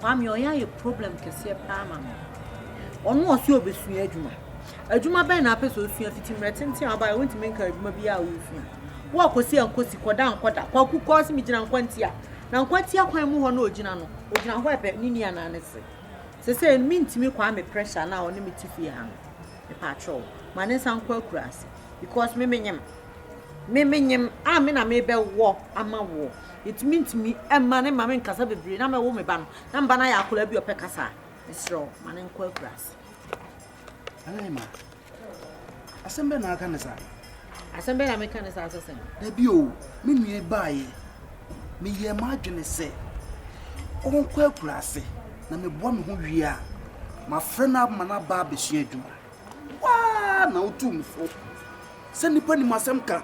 Kwame ɔyɛ ayɛ problem kɛseɛ paa ama me. Ɔno ɔse ɔbɛsua adwuma. Adwuma bɛn na apɛ sɛ ɔsua fiti mmerɛ tenten a ɔbaeɛ wontumi nka adwuma bi a wosua. Wo a kɔsi a nkɔsi, kɔda a nkɔda. Kwaku kɔɔ se megyina nkwantia. Na nkwantia kwan mu hɔ na ɔgyina no. Ɔgyina hɔ ɛbɛ ne ni anaa ne se. Sesei no mentumi Kwame pressure no a ɔne me te fie ha no. Mepaakyɛw ma ne nsa nkɔ akuraase. Because me menyem. Me menyem a me na mebɛwɔ ama wo. Nti mentumi mma ne maame nkasa bebree na mɛwo me ba no na me ba no ayɛ akwadaa bi ɔpɛ kasa a, mesrɛ wo ma no nkɔ akuraase. Ɛnɛ ma asɛm bɛ na aka ne saa. Asɛm bɛ na meka ne saa sɛ sɛn. Dabi o, me nua baayɛ meyɛ m'adwene sɛ ɔnkɔ akuraase na meboa me ho wie a mafrɛ no ama no aba abɛsua adwuma. Wo ara na wotu me fo sɛ nnipa nnim asɛm ka,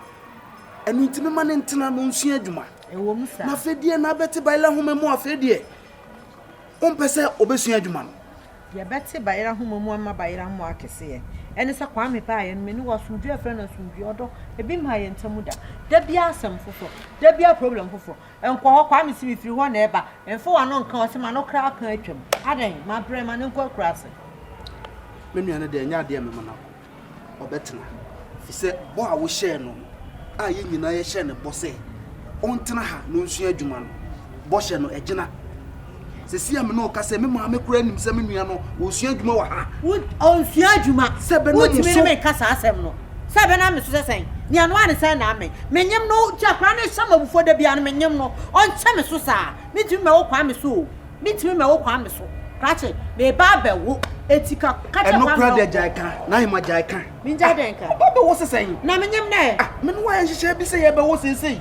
ɛno nti mema no ntena na ɔnsua adwuma. Na afei deɛ na bɛte bayerɛ nhoma mu afei deɛ wompɛ sɛ ɔbɛsua adwuma no. Deɛ bɛte bayerɛ nhoma mu ama bayerɛ mmoa akɛseɛ ɛne sɛ Kwame paa yɛn mene wɔ asomdwoeɛ frɛ no asomdwoeɛ ɔdɔ ebi mmaa yɛn ntam da da biara asɛm foforɔ da biara problem foforɔ Nkɔ hɔ, Kwame se mefiri hɔ na ɛba, mfa w'ano nka hɔ, se m'ano kra aka atwam, adɛn, mabrɛ, ma no nkɔ akuraase. Me nua no deɛ ɛnyɛ adeɛ a mɛma no akɔ, ɔbɛtena, ɛfiri sɛ bɔ a wohyɛɛ no no, a yɛn nyinaa yɛhyɛɛ no bɔ sɛ ɔntena ha na ɔnsua adwuma no, bɔhyɛ no agyina. Sesia me ne wo kasa yi, me maame koraa nim sɛ me nua no, ɔresua adwuma wɔ ha. Wo, ɔnsua adwuma? Sɛ ɛbɛnam wo so. Wontumi ne me nka saa asɛm no. Sɛ ɛbɛnam me so sɛ sɛn? Nea ɛnoa ne sɛ ɛnam me. Menyem no, nti akwadaa no hyɛ me abufuo da biara no, menyem no. Ɔnkyɛ me so saa. Mentumi mɛwo Kwame so o. Mentumi mɛwo Kwame so. Krakye, meba abɛwo, enti ka, ka kyerɛ Kwame na ɔnkɔ. Ɛno koraa deɛ gyae ka, Naima, gyae ka. Mengyae dɛn ka? Aba abɛwo sɛ sɛn? Na menyem no ɛ? Ah, me ne wo ayɛ nhyehyɛɛ bi sɛ yɛrebɛwo seesei.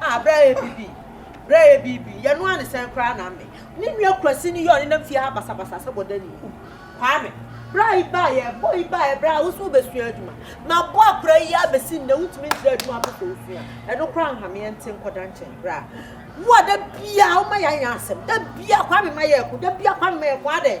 Ah bra yɛ bibi bra yɛ bibi yɛ noa ne sɛn koraa na me ne nua kurasi no yɛ ɔne nam fie ha basa basa sɛ bɔda ni uh kwame bra yi ba yɛ bɔ yi ba yɛ bra woso bɛ sua adwuma ma bɔ akora yi a bɛsi nnɛ wontumi nkyerɛ adwuma pɛ sɛ osua ɛno koraa nhame yɛ nte nkɔda nkyɛn bra wo a da bia woma yɛ anya asɛm da bia kwame ma yɛ ko da bia kwame ma yɛ ko adɛn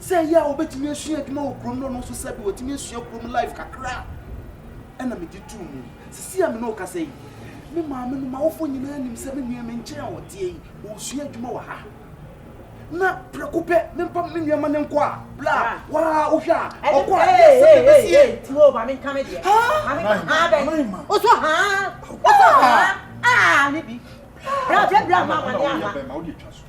Sɛ ɛyɛ a wobɛtumi asua adwuma wɔ kurom no ɔno nso sɛbi watumi asua kurom life kakra ɛna mede too mu. Sisi a me ne wo kasa yi me maame no m'awofo nyinaa nim sɛ me nua me nkyɛn a ɔteɛ yi ɔresua adwuma wɔ ha na prɛko pɛ mempa me nua ma no nkɔ a bla waa wohwɛ a ɔkɔ a yɛ sɛ bɛbɛsi yɛ ti o maame nka me deɛ maame nka haa bɛn wosɔ haa wosɔ haa aa ne bi bla bla bla ma ma ne ama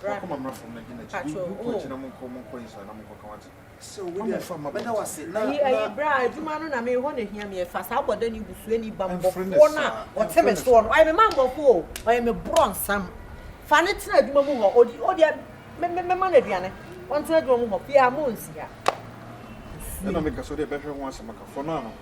Bra me patrol oh. Ayi ayi bra adwuma no na me hɔ na ehia me ɛfa saa bɔdɛ ne busua ni ba mbɔfoɔ no a ɔte me soɔ no ɔyɛ me ma mbɔfoɔ o ɔyɛ me borɔ nsam fa ne tena adwuma mu hɔ odi odi me me me ma no aduane ɔntena adwuma mu hɔ fie ha mo nsi ha. Ɛna me ka sɛ ɔde ɛbɛhwɛ ho asɛm aka fɔ no ano.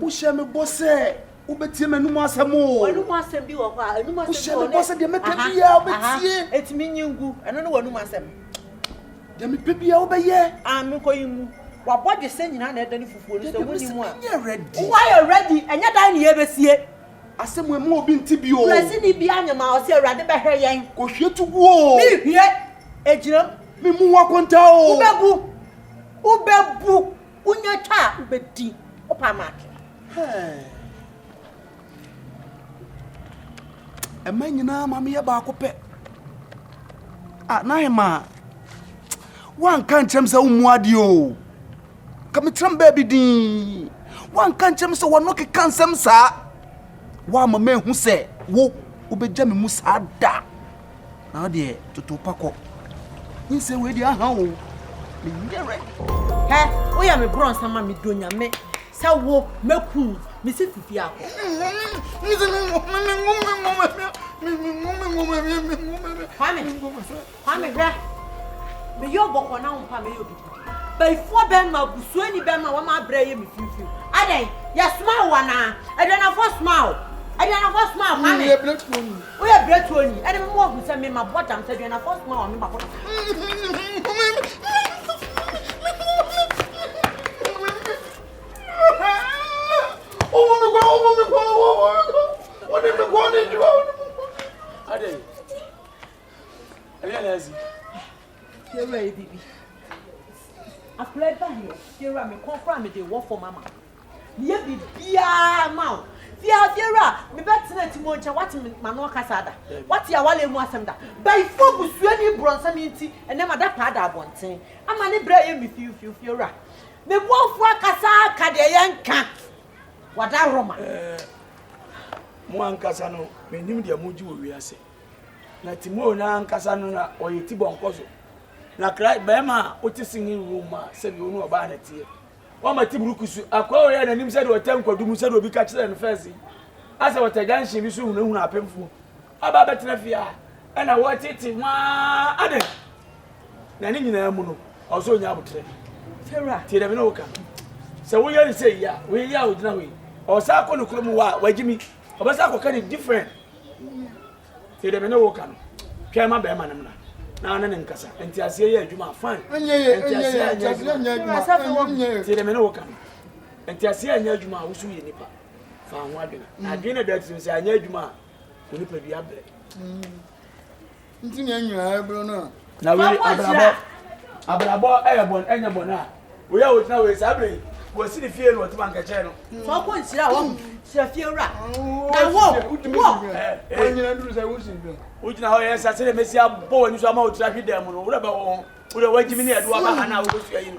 wohyɛ me bɔ sɛ wobɛtie m'anom asɛm o wohyɛ me bɔ sɛ deɛ mɛka biaa wobɛtie ɛtumi nyi ngu ɛno ne w'anom asɛm deɛ mepɛ biaa wobɛyɛ menkɔyi mu wabɔ dwesɛ nyinaa na ɛda ne fufuo no sɛ wonni mu a woayɛ ready ɛnyɛ dan ne yɛbɛsie asɛm ɛmu obi nti bio prɛsi ne bi anyama ɔsɛ awurade bɛhwɛ yɛn kɔhwie to guo mehwie ɛgyinam memu ho akonta o wobɛbu wobɛbu Wonya twa a wobɛdi wo pa maake. Ɛma nyinaa ma meyɛ baako pɛ. Ah, na hemaa. Woanka nkyerɛ m sɛ wommu adeɛ o. Ka mekyerɛ m baabi din. Woanka nkyerɛ m sɛ wɔno keka nsɛm saa. Woama mahu sɛ wo wobɛgya me mu saa da. Na wo deɛ toto pa kɔ. Nyinsɛn wei deɛ aha o. Menyɛ ready. Hɛ, woyɛ me brɔnsa ma me dɔ nyame sɛ wo mɛku wo. Me si fifi akɔ. Kwame, Kwame hwɛ. Meyɛ ɔbɔkɔ na wo mpa mɛyɛ obi. Bayifoɔ bɛrima, busuani bɛrima a wama abrɛ yɛ me finfin. Adɛn? Yɛsomaa wo anaa? Aduanafoɔ somaa wo? Aduanafoɔ somaa wo? Ame? Woyɛ berɛtuo ni? Ɛne mo ahu sɛ me mabɔ dam sɛ aduanafoɔ somaa wo a me ba bɔ Adɛn? Ɛyɛ na asi. Yewura yɛ biribi. Akwadaa yi ba heɛ. Fiewura me kɔn koraa mede wɔ fam ama wo. Meyɛ biribiara ma wo. Fia fiewura me bɛ tena ti mo nkyɛn wate me ma no ɔkasa ada. Wate awale mu asɛm da. Bayifoɔ busuani borɔnsam yi nti ɛnɛ ma da paa da abɔnten. Ama ne brɛ yɛ me fiu fiu fiewura. Me boafoɔ akasa aka deɛ yɛ nka. Wada roma. Ɛɛ mo ankasa no menim deɛ mo gye wɔ wiase. Na Timor no ankasa no na ɔyɛ ti bɔnkɔ so. Na Christ, bɛrima a ɔte singing room mu a sɛdeɛ ɔne ɔbaa no teɛ, wama ti burukusu akɔ ɔyɛ n'anim sɛdeɛ ɔtɛ nkwadu mu sɛdeɛ obi ka kyerɛɛ no first yi, asɛ ɔtɛ junction bi so hunahuna apemfoɔ aba abɛtena fie a ɛna wɔtete waa adɛn na ne nyinaa mu no ɔwɔ sɛ ɔnya abotrɛ tie dɛm ne woka sɛ woyɛ ne sɛ yi a woyɛ yi a wogyina hɔ yi ɔwɔ sɛ akɔ ne kurom wɔ a wagyimi ɔbɛsɛ akɔka ne different Tie deɛ me ne wo ka no. Twɛn ma bɛrima no mmra na wo ne no nkasa. Nteaseɛ yɛ adwuma a, fine. Nteaseɛ anyɛ adwuma. Tie deɛ me ne wo ka no. Nteaseɛ anyɛ adwuma a, wo so yɛ nipa. Fa ho adwene. Na adwene no da tirim sɛ anyɛ adwuma a, wo nipadua brɛ. Nti na nyina ɛbro no a. Na wei abrabɔ abrabɔ ɛyɛ bɔn ɛnyɛ bɔn a wei a wogyina wei saa bere wɔsi ne fie no wɔte bankakyɛ no. sɛ ɔkɔ nsira hɔ sira fie wura na wo wo ɔnyina duru sɛ wosi dɛ wogyina hɔ yɛ sase dɛ mesi abɔ w'ani so ama wotira hwe dɛm no wura bɛ wo ho wura w'agyimi ne ɛdoa ba ha na wobɛsua yi no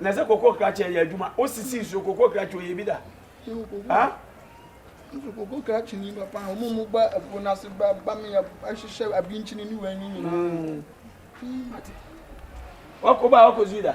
na sɛ koko krakye ɛyɛ adwuma osisi nsuo koko krakye oyɛ bi da ha. nso koko krakye ni papa wɔn mu ba ɛpo n'ase ba ba mi yɛ ahyehyɛ abinkyini ni wɔn anyi nyinaa. wakɔ ba wakɔ zui da.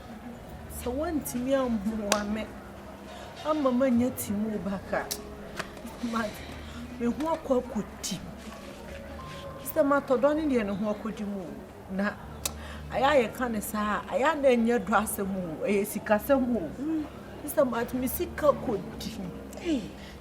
Sɛ woantumi ammoa me amma mannya Timor back a, ma me ho akɔ akɔdi mu. Sɛ matɔ dɔ no deɛ ne ho akɔdi mu o, na ayɛ a yɛka no saa a, ayɛ a na ɛnyɛ dɔ asɛm o, ɛyɛ sikasɛm o. Sɛ ma me sika kɔdi mu. Ei!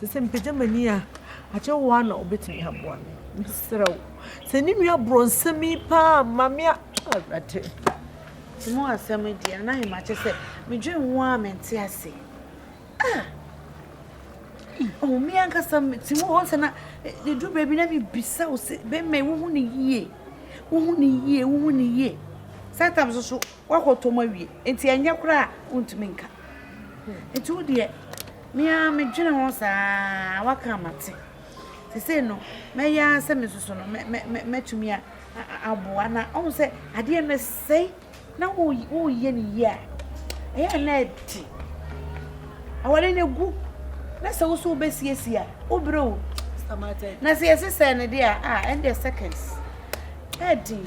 Sɛ sɛ mepagya m'ani a, agye wo ara na wobɛtumi aboa me. Mesrɛ wo. Sɛ ne nua borɔnsɛm yi paa ma me a, Awurade. Nti mo asɛm di a na yɛ makyɛ sɛ medwen ho a mente ase. Ah! Oh, me ankasa ti mu hɔ sɛ na ɛduru e, baabi na mebisa wo sɛ bɛmɛ wohu ne yie. Wohu ne yie, wohu ne yie. Saa tam so so Woakɔtɔ mu awie nti ɛnyɛ koraa a wontumi nka. Nti wo deɛ me ara medwene ho saa woaka a mate. Nti sei no mɛyɛ ara sɛ me soso no mɛtumi aboa na ɔhu sɛ adeɛ no ɛsɛe na woyɛ no yie a ɛyɛ a na ɛte. Aware no ɛgu na sɛ wo so wobɛsiesie a wobrɛ o. Na sɛ yɛsesɛ no deɛ a ɛndeɛ seconds ɛdin.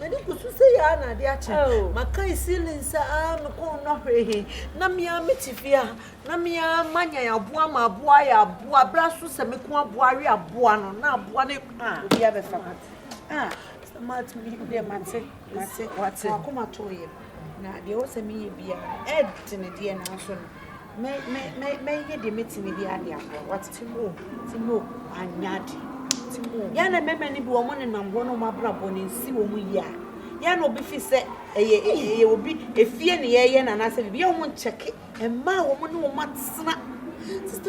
M'ani gu so sɛ yɛ ara na ade akye. Makae ceilings a me kɔn nnɔ hwee he, na me ara mete fie a, na me ara manyan aboa ma aboa ayɛ aboa. Berɛ a so sɛ me ko aboa awe aboa no, na aboa no a obi abɛfa no. Ah, sɛ matumi deɛ mate, mate, wate. M'akoma too yam. Na deɛ ɛwɔ sɛ meyɛ biara no, ɛɛdene deɛ nanso no. Me me me me yɛ deɛ mɛtumi de ade agorɔ wate timo timo anyɛ ade timo yɛ na mɛmɛ no bi wɔn ne nam hɔ na wɔn abrabɔ no nsi wɔn yie a yɛ na obi fi sɛ ɛyɛ ɛyɛ obi efie ne yɛyɛ na anaasɛ bibi yɛ wɔn nkyɛke mmaa wɔn ne wɔn atena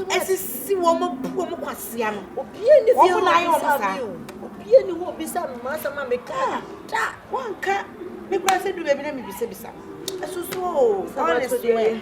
ɛsisi wɔn bu wɔn kwasia no obie ne bi wɔn na ayɛ wɔn saa obie ne hɔ obi sa no maa sɛ maa mɛka da wɔn nka mekura sɛ du baabi na mebisabisa ɛsoso honestly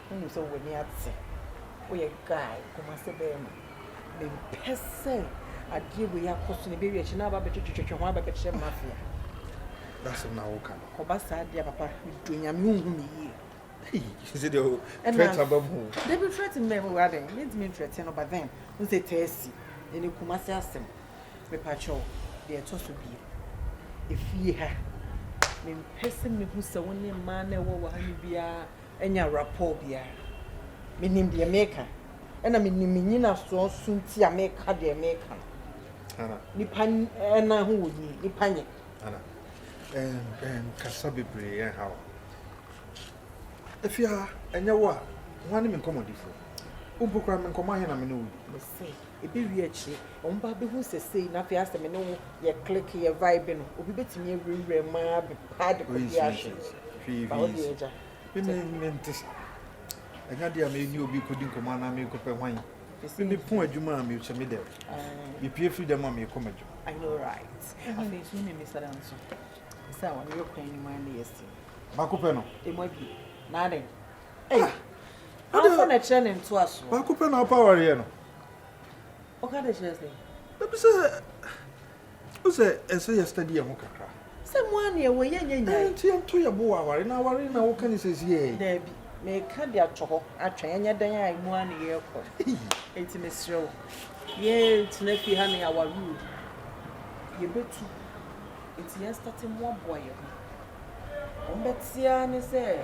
Wonim sɛ w'ani ate, woyɛ guy, Kumasi barima. Mempɛ sɛ adeɛ wei akɔ so na ɛbɛwie akyire na aba abɛtwetwetwe ho aba abɛkyerɛ mafia. Dasɛm na woka no. Kɔba saa deɛ papa, medɔ Nyame ɔhu me yie. Hey, sɛ deɛ o threat aba mu. Dabi threat mmɛ mu wura dɛn, mentumi ntrɛte no but then, wohu sɛ taa si, ɛnɛ Kumasi asɛm. Mepakyɛw, deɛ ɛtɔ so biem, efie ha, mempɛ sɛ mehu sɛ wo ne mmaa no a ɛwɔ wɔ ha no biara anya rapport biara. Menim deɛ meka, ɛna menim me nyinasoɔ so nti a meka deɛ meka no. Nnipa nan ho wɔ nwi, nnipa nyɛ. Ana, nkasa bebree ɛnha wo. Afia, ɛnyɛ wo a, hwan ne me nkɔmmɔdifoɔ? Wo mpo koraa me nkɔmmɔ ahe na me ne wo di? Ɛbɛwie akyire wɔn ba bɛhu sɛ sei na afei asɛ me ne wo yɛ click yɛ vibe no obi bɛtumi awura wura mu ara bɛpa ade kɔ bi ahwe ba wo deɛ agya. Mimi mente ɛnya deɛ a mɛni obi kɔdi nkɔmɔ anaa mekɔpɛ hwan mimi pon adwuma a mehyɛ me dɛm mepie firi dɛm a mekɔ m'adwuma. I know right. Afei nso ne mimi sada nso sɛ a wɔne yɛ kwan anim a ne yɛ si. Baako pɛ no. Emu abie. Naadɛn. Ɛyi. Awofa na ɛkyerɛ ne ntoasoɔ. Baako pɛ na ɔpa awareɛ no. Ɔka de kyerɛ sɛ. Ebi sɛ o sɛ ɛsɛ yɛ study yɛ ho kakra. Sɛ mo a nea wɔyɛ nyɛ nyae. Ɛnti yɛn to yɛ bo wɔ aware na aware na woka ne sɛsi yɛ. Daabi meka de ato hɔ atwɛn ɛnyɛ dɛn a emu a ne yɛkɔ ɛnti mesrɛ wo yɛn tena fie ha ne aware o yɛ bɛtu ɛnti yɛn starte mmoaboa yɛ ho wɔn bɛtea ne sɛ.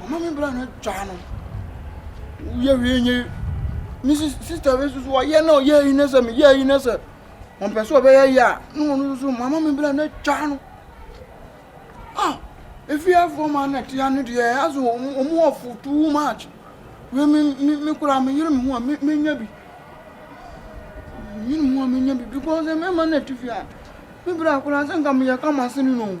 Mama mi bra no twa no. Woyɛ hwee nye. Ne sista bi nso so ɔyɛ na ɔyɛ yi ne sɛ meyɛ yi ne sɛ ɔmpɛ sɛ ɔbɛyɛ yɛ a ne wɔn nso so mama mi bra no twa no. Ah, efiafoɔ ma na tia no deɛ aso wɔn ɔfo too much. Wei me me me kura me yere me ho a me me nya bi. Me yere me ho a me nya bi because mmarima na ti fia. Me bra kura sɛ nka meyɛ kama sini no.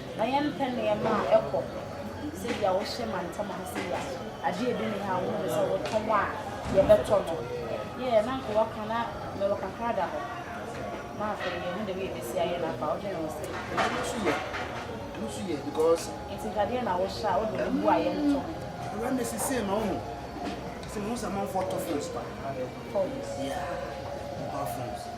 Na yɛmpɛ nneɛma a ɛkɔ sɛdeɛ wohyɛ mantam ha sei a, adeɛ bi nni ha a wohunu sɛ wotɔn a yɛbɛtɔ no. Yɛɛ na nka waka na mewɔ kakra da hɔ. Na afei yɛhu deɛ yɛbɛsi ayɛ no afa, wodwene ho sɛn? Ɛno nso yɛ, ɛno nso yɛ because. Nti nkadeɛ na wohyɛ a wode wo bu a yɛntɔ ho. Wura na ɛsi sei ma wo ho. Sɛ mo sɛ amanfoɔ tɔ phones pa. Phones? Yeah, mobile phones.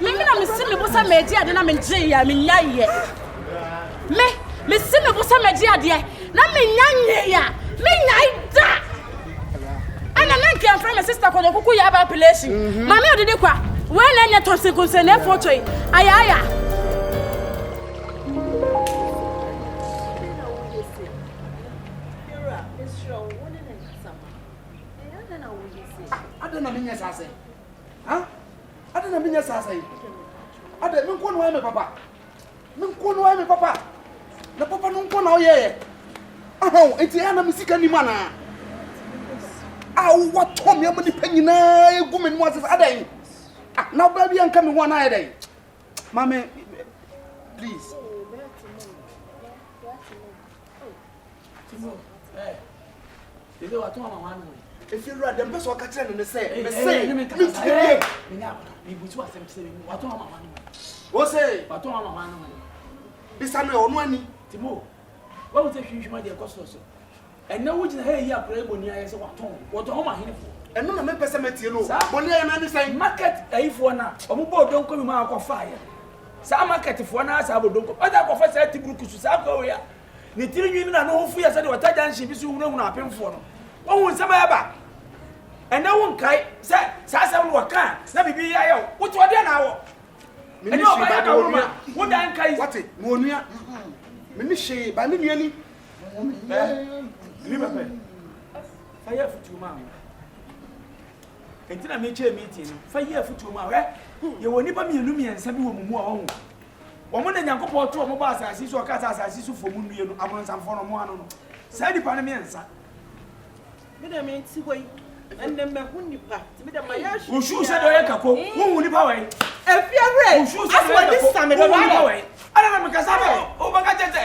meme na mesi me bo sɛ magye adeɛ na megyeeɛ a menya yɛ me mesi me bo sɛ magye adeɛ na menya nyee a menyae da ɛna na nka ɛmfrɛ me sister kɔdɔ kuku yɛ aba apelation mhm. mame ɔdede kwa wei na ɛnyɛ tɔnsenkonsɛ na ɛfoto yi ayaaya Adɛn na menyɛ saa sɛe? Ha? Adɛn na menyɛ saa sɛe? Adɛn me nko na ɔyɛ me papa? Me nko na ɔyɛ me papa? Na papa no nko na ɔyɛ yɛ? Aha o, enti ɛyɛ na me sika nim anaa? A wowatɔ me ama nipa nyinaa egu me no ase sɛ adɛn? Ah, na ɔbaa bi anka me ho anaa yɛ dɛn? Maame, please. efi wura dɛm pɛ sɛ ɔka kyerɛ no ne sɛ mese metumi bie wo se bisa no ɔno ani timo wahu sɛ hwinhwima deɛ ɛkɔ sorɔ so ɛnɛ wogyina ha yi akora ɛbɔni ayɛ sɛ watɔn wɔtɔn homa henefoɔ ɛno na mepɛ sɛ matie no bɔni ayɛ no ane sɛn market ayifoɔ no a ɔmobɔ ɔdɔnkɔ bi ma akɔfaeɛ Saa market foɔ no ara saa bɔ donko ɔtaa kɔfa saa ti buruku so saa akoa wei a ne tiri nwi ne n'ano ho fu yɛ sɛdeɛ ɔta junction bi so hunahuna apemfoɔ no wahu nsɛm a ɛba ɛnɛ wo nkae sɛ saa asɛm no wɔka a na biribi yɛ ayɛ wo wote ɔdeɛ na awɔ ɛnyɛ ɔba yɛ daworo ma wo dan nkae wate na onua me ne hyee ba me nua ni ɛɛ ni bɛpɛ ayɛ afutuo maa Enti na mekyɛɛ meeting no fa yii afotuo mu a, hwɛ, yɛwɔ nnipa mmienu mmiɛnsa bi wɔ mo mu a, wahu, wɔn na Nyankopɔn too wɔn bɔɔ asase yi so a ɔkaa sɛ asase so foɔ mu nnue no, abronsamfoɔ no, wɔn ano no, saa nnipa no mmiɛnsa. Me deɛ mente hɔ yi, ɛnnɛ mahu nnipa, nti me deɛ mayɛ ahwɛ. Wosuo sɛ deɛ ɔyɛ kako, wohu nnipa wɔ yi. Ɛfie awerɛ, asɛ wɔde same dodo ayɛ. Ɛna na mekasa no, wobɛka kyɛ sɛ.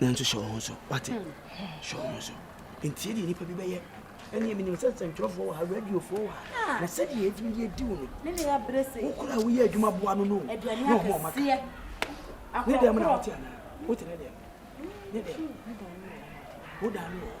nanso hyɛ wo ho so wate hyɛ wo ho so ntie deɛ nnipa bi bɛyɛ ɛneɛ menim sɛ nsɛntwerɛfoɔ wɔ ha radiofoɔ wɔ ha ah. na sɛdeɛ ɛtumi deɛ di wo no wokora woyɛ adwuma boa no no ne ho ɔmaka ne dɛm na wote anaa wote ne dɛm ne dɛm wodaa no wɔ hɔ